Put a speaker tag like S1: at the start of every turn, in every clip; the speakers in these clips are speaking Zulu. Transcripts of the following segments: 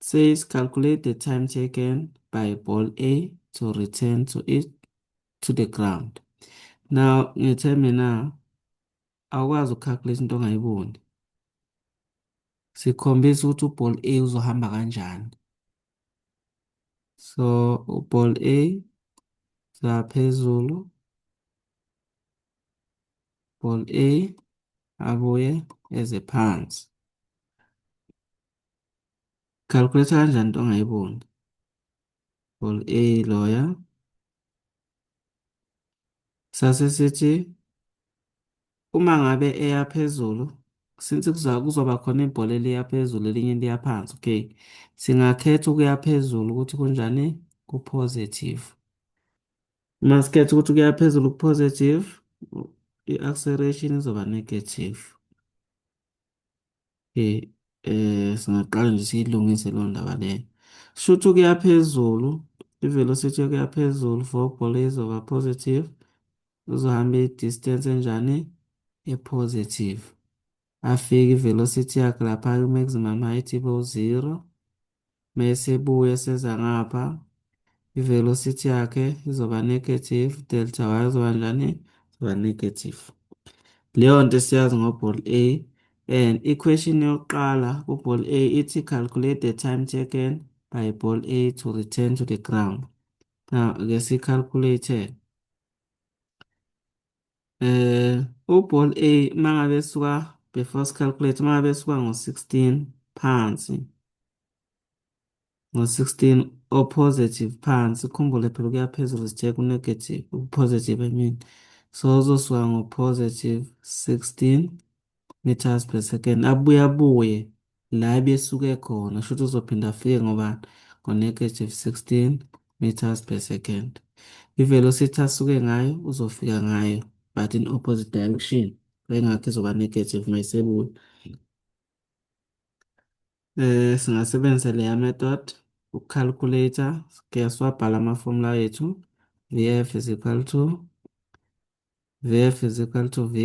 S1: It says calculate the time taken by ball A to return to it to the ground. Now ngithe mina awukwazi ukucalculate into ongayiboni. Sikhombisa ukuthi uball A uzohamba kanjani. So uball A saphezulu ball A abuye eze phansi calculator kanjani into ongayiboni ball A loya sase sithi uma ngabe eya phezulu since kuzoba khona ibhola eliya phezulu elinye liya phansi okay singakhetha ukuya phezulu ukuthi kunjani ku-positive Uma sikhetha ukuthi kuya phezulu ku-positive, i-acceleration izoba negative. Okay, eh singaqala nje siyilungise leyo ndaba leyo. Shuthi ukuya phezulu, i-velocity yokuya phezulu for ibhola izoba positive, uzohamba i-distance enjani? E-positive. afike i-velocity yakhe lapha kwi-maximum height ibe u-zero mese ebuya eseza ngapha i-velocity yakhe izoba negative delta y izoba njani izoba negative leyo nto esiyazi ngoball a and i-question yokuqala kuball a ithi calculate the time taken by ball a to return to the ground now ke siyicalculate Eh uball A uma ngabe suka before sicalculate uma ngabe suka ngo-16 phansi ngo-16 o positive phansi khumbule phela kuya phezulu sithe ku-negative ku-positive I mean so uzosuka ngo-positive 16 meters per second abuye abuye la ebesuke khona shuthi uzophinda afike ngobani ngonegative 16 meters per second ivelocity asuke ngayo uzofika ngayo but in opposite direction engakho izoba negative mayisebuya eh singasebenzisa leya method ukucalculator kuyaswabhala ama-formula ethu vf is equal to vf is equal to vi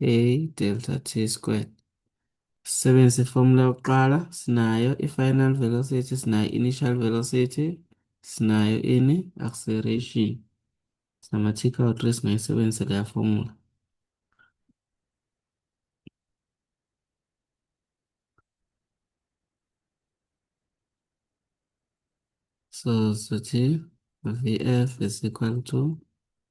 S1: a delta t squared sisebenzise ifomula yokuqala sinayo i-final velocity sinayo initial velocity sinayo ini acceleration sinama-tick out re singayisebenzisa leya fomula So, so t, Vf is equal to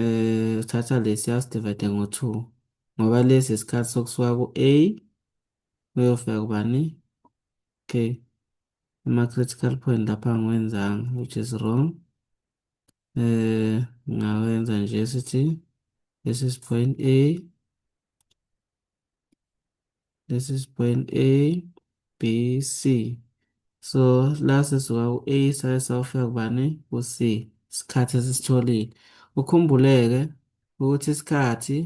S1: Eh, uthatha lesi asidivide ngo-two ngoba lesi isikhathi sokusuka ku-A uyofika kubani okay ama-critical point lapha angiwenzanga which is wrong eh ngawenza nje sithi this is point A This is point A, B, C. So la sisuka ku-A saye sawufika kubani ku-C isikhathi esisitholile. Ukhumbuleke ukuthi isikhathi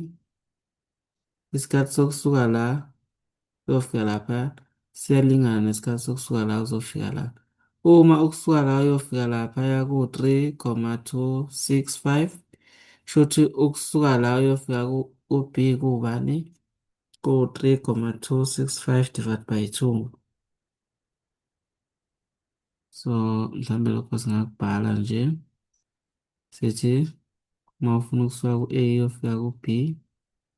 S1: isikhathi sokusuka la siyofika lapha Siyalingana nesikhathi sokusuka la uzofika la. Uma ukusuka la uyofika laphaya ku-3,265 shuthi ukusuka la uyofika ku-B kubani? Ku-3,265 divided by 2. So mhlawumbe lokho singakubhala nje sithi uma ufuna ukusuka ku-A uyofika ku-B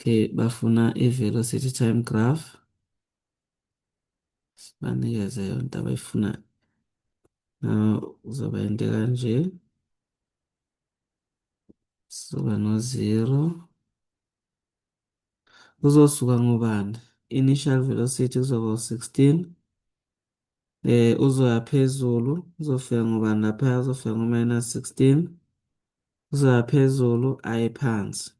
S1: Okay, bafuna i-velocity time graph. Sibanikeze yonke abayifuna. Now uzoba into kanje. Sizoba no 0. Uzosuka ngobani? Initial velocity kuzoba 16. eh uzoya phezulu uzofika ngobani lapha uzofika ngo minus 16 uzoya phezulu aye phansi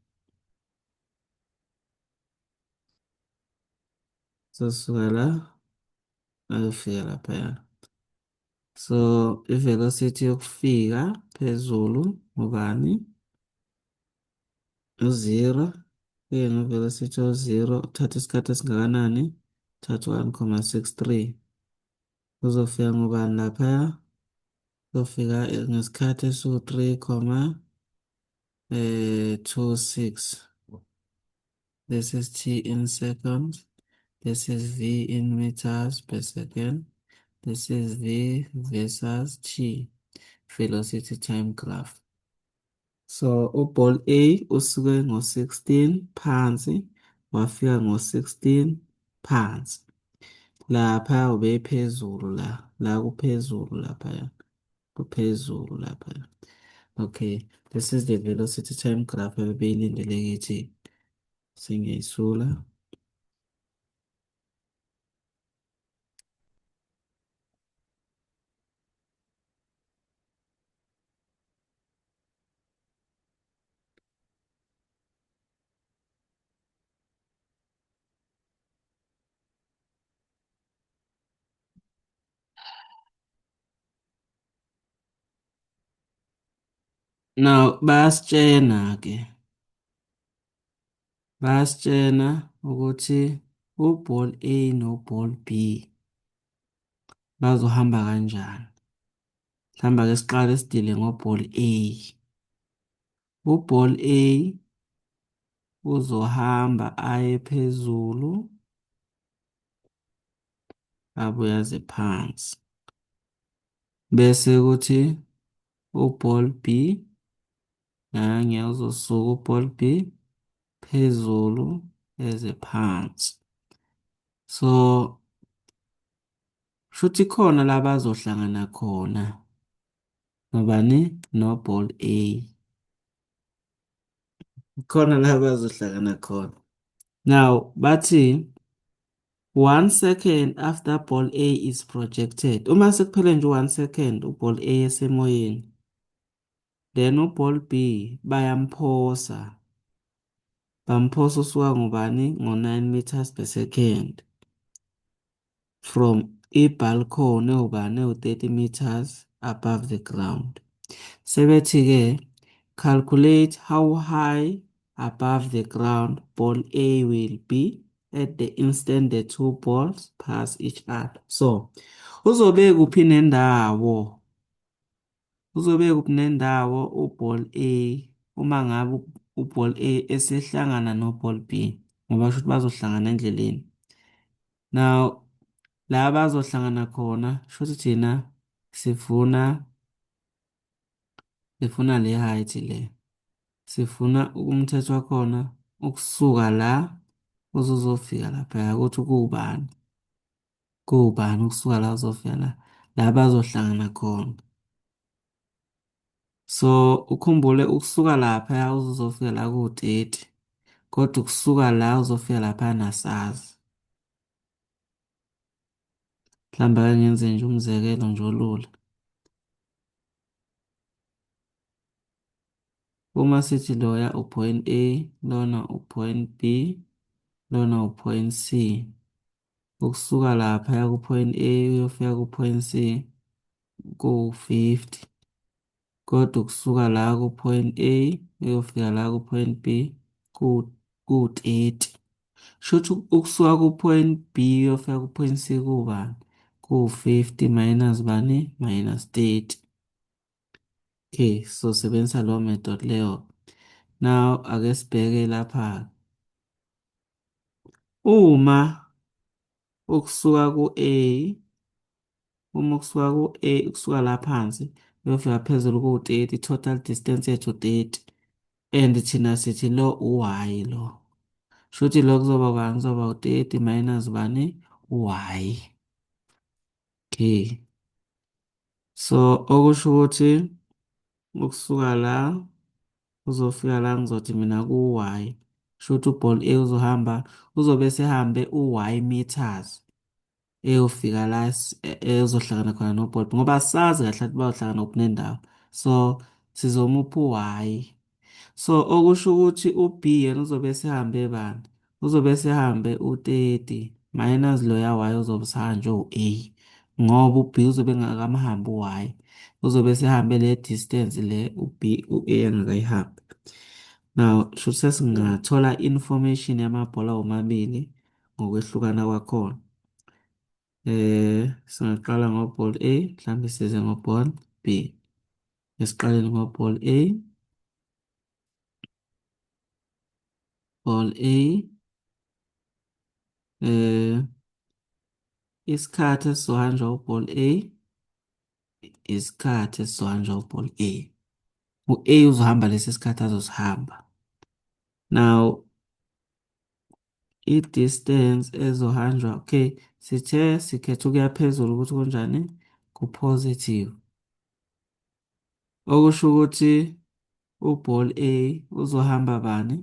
S1: sosuka la ayofika lapha ya so i velocity yokufika phezulu ngobani uzero kuye ngivele sithi uzero uthatha isikhathi esingakanani uthatha one comma six three uzofika ngubani laphaya uzofika ngesikhathi esiwu-three comma eh, two six this is t in seconds this is v in meters per second this is v versus t velocity time graph So uball A usuke ngo-16 phansi wafika ngo-16 phansi. Lapha ubephezulu la, la kuphezulu lapha. Kuphezulu lapha. Okay, this is the velocity time graph ebeyilindele ngithi singiyisula. Now bayasitshena-ke Bayasitshena ukuthi u-ball A no-ball B bazohamba kanjani. Mhlawumbe ake siqale sidile ngo-ball A. U-ball A uzohamba aye phezulu abuye aze phansi. Bese kuthi u-ball B Ngangya uzosuka uball B phezulu eze phansi. So shuthi khona la bazohlangana khona nobani no-ball A. Khona la bazohlangana khona. Now bathi one second after ball A is projected. Uma sekuphele nje one second uball A esemoyeni then uBall B bayamphosa bamphosa usuka ngobani ngo-9 meters per second from i-balcony ewubani ewu-30 meters above the ground sebethi-ke calculate how high above the ground ball A will be at the instant the two balls pass each other so uzobekuphi nendawo Uzobe kuphi nendawo uBall A uma ngabe uBall A esehlangana noBall B ngoba shuthi bazohlangana endleleni. Now la bazohlangana khona shuthi thina sifuna sifuna le height le. Sifuna umthetho wakhona ukusuka la uzozofika lapha ukuthi kuwubani. Kuwubani ukusuka la uzovela la bazohlangana khona. So ukhumbule ukusuka lapha uzofika la kuwu-30 kodwa ukusuka la uzofika lapha nasazi. Mhlawumbe ake ngenze nje umzekelo nje olula. Uma sithi loya u-point A, lona u-point B, lona u-point C. ukusuka lapha ya ku-point A uyofika ku-point C kuwu-50 kodwa ukusuka la ku-point A uyofika la ku-point B kuwu-30 shuthi ukusuka ku-point B uyofika ku-point C kuwubani kuwu-50 minus bani minus 30 Okay, so sebenzisa lo method leyo. Now ake sibheke lapha. Uma ukusuka ku-A uma kusuka ku-A kusuka la phansi uyofika phezulu ku-30 total distance yethu 30 and thina sithi lo u-y lo shuthi lo kuzoba bani kuzoba u-30 minus bani u-y okay So okusho ukuthi ukusuka la uzofika la ngizothi mina ku-y kusho ukuthi uball a uzohamba uzobe esehambe u-y meters eyofika la ezohlangana khona noball ngoba sazi kahle ukuthi bayohlangana kuphi nendawo so sizomupha u-y so okusho ukuthi u-b yena uzobe esehambe bani uzobe esehambe u-30 minus loya y uzobe usahanjwe u-a ngoba u-b uzobe engakamhambi u-y uzobe esehambe le distance le u-b u-a engakayihambi now shuthi sesingathola information yamabhola womabili ngokwehlukana kwakhona eh singaqala ngoball a mhlawumbe size ngoball b esiqaleni kwa ball A ball A eh isikhathi esizohanjwa uball A isikhathi esizohanjwa uball A u-A uzohamba lesi sikhathi azosihamba now i-distance ezohanjwa okay sithe sikhetha ukuya phezulu ukuthi kunjani ku-positive okusho ukuthi uball A uzohamba bani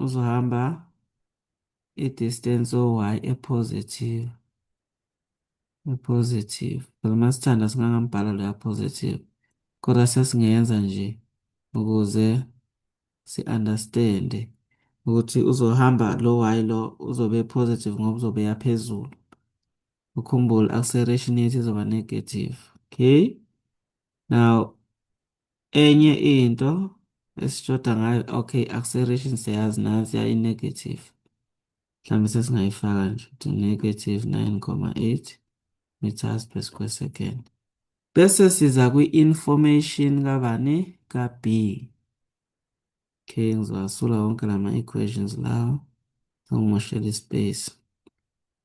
S1: uzohamba i-distance o-y e-positive e-positive phela uma sithanda singangambhala loya positive kodwa sesingenza nje ukuze si-understand ukuthi uzohamba lo y lo uzobe positive ngoba uzobe yaphezulu ukhumbule acceleration yethu izoba negative okay now enye into esishoda ngayo okay acceleration siyazi nansi yayi negative mhlawumbe sesingayifaka nje ukuthi negative 9,8 meters per square second bese siza kwi-information kabani ka-b okay ngizowasula wonke lama-equations lawo sangimoshela ispace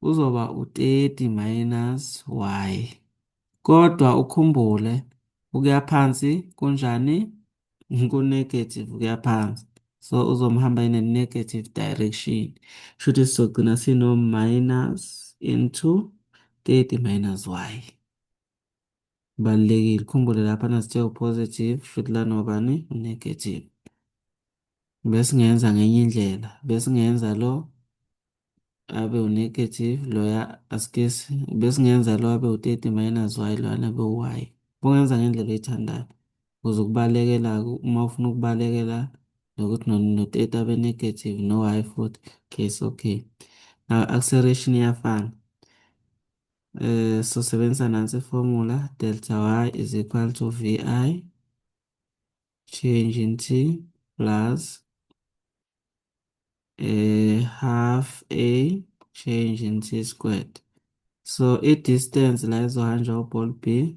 S1: kuzoba u-30 minus y. Kodwa ukhumbule ukuya phansi kunjani? Kunegative ukuya phansi. So uzomhamba in a negative direction. Shuthi sizogcina sino minus into 30 minus y. Kubalulekile ukhumbule lapha nasithe u-positive shuthi lana ubani u-negative. Besingenza ngenye indlela, besingenza lo abe u-negative loya askisi, besingenza lo abe u-30 minus y loyana abe u-y. Bungenza ngendlela oyithandayo ukuze ukubalekela uma ufuna ukubalekela nokuthi no-30 abe negative no-y futhi okay so okay. Now acceleration iyafana. eh sosebenzisa nansi formula delta y is equal to vi change in t plus eh half a change in t squared so i distance la izohanjwa uball b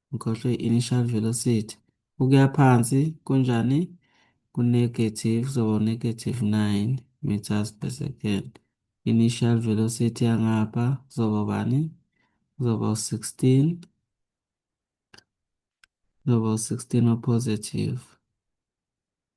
S1: ngikhohlwe i-initial velocity ukuya phansi kunjani ku-negative kuzoba u-negative 9 meters per second initial velocity yangapha kuzoba ubani kuzoba u-16 kuzoba u-16 opositive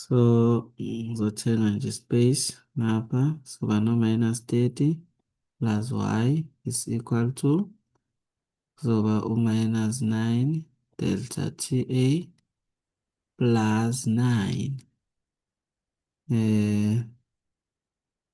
S1: So ngizothenga nje space ngapha soba no minus 30 plus y is equal to kuzoba u minus 9 delta TA plus 9 eh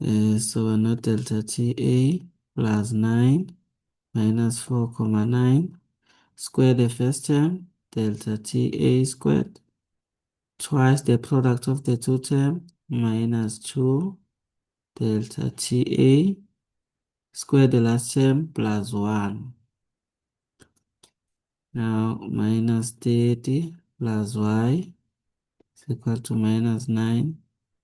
S1: eh, soba no delta TA plus 9 minus 4,9 square the first term delta TA squared twice the product of the two term minus 2 delta TA square the last term plus 1 now minus 30 plus y is equal to minus 9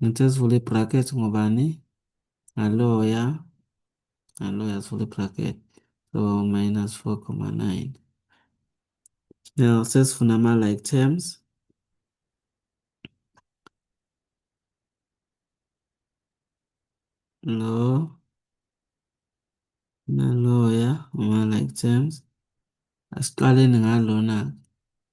S1: Ngithe sivula i-bracket ngobani? Ngaloya. Ngaloya sivula i-bracket. So minus 4,9. Now sesifuna ama-like terms. Lo. Naloya uma-like terms. Asiqaleni ngalona-ke.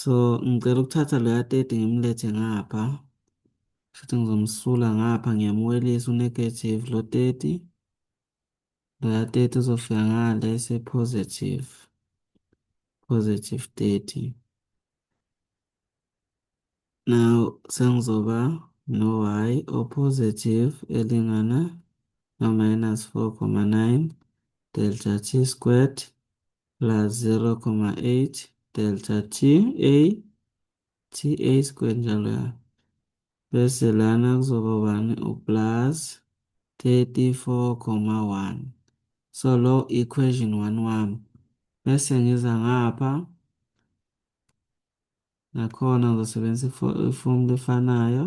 S1: So ngicela ukuthatha loya 30 ngimlethe ngapha. Shuthi ngizomsula ngapha ngiyamwelisa unegative lo 30. Loya 30 uzofika ngale se positive. Positive 30. Now sengizoba no y o positive elingana no minus 4,9 delta t squared plus 0,8 delta t a t a square njalo ya bese lana kuzoba ubani uplus 34,1 so lo equation 1 wami bese ngiza ngapha nakhona ngizosebenzisa ifomu lefanayo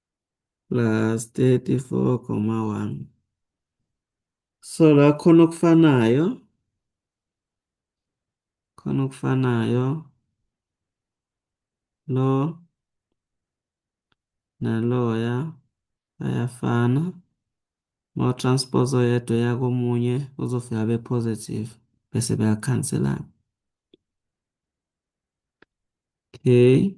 S1: plus 34,1 so la khona okufanayo khona okufanayo lo naloya ayafana ma transpose oyedwa yakomunye uzofika be positive bese beyakhanselana okay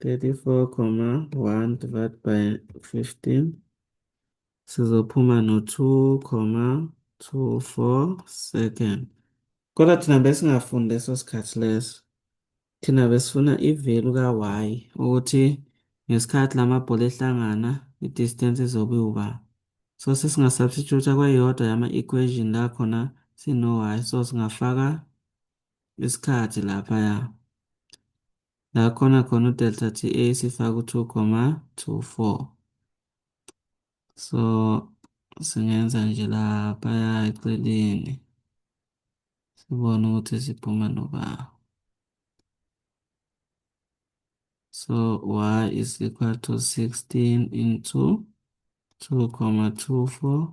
S1: 34 comma 1 divided by 15 sizophuma no 2 comma 24 second kodwa thina besingafundi leso sikhathi leso thina besifuna ivelu ka-y ukuthi ngesikhathi la mabhola ehlangana i-distance izobe iwuba so sesingasubstitute kweyodwa yama-equation la khona sino-y so singafaka isikhathi laphaya La khona khona udelta TA sifaka u-2,24. So singenza nje laphaya eceleni sibone ukuthi siphuma noba. So y is equal to 16 into 2,24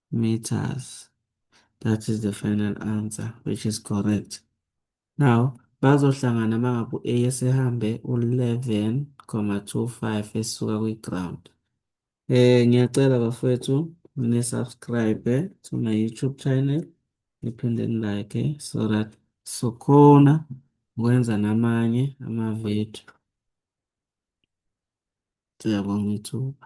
S1: meters. That is the final answer, which is correct. Now, bazohlangana mangabe u-A esehambe u-11,25 esuka kwi-ground. Eh ngiyacela bafowethu nisubscribe to my YouTube channel niphinde nilike so that sokhona ukwenza namanye ama-video. Siyabonga ithuba.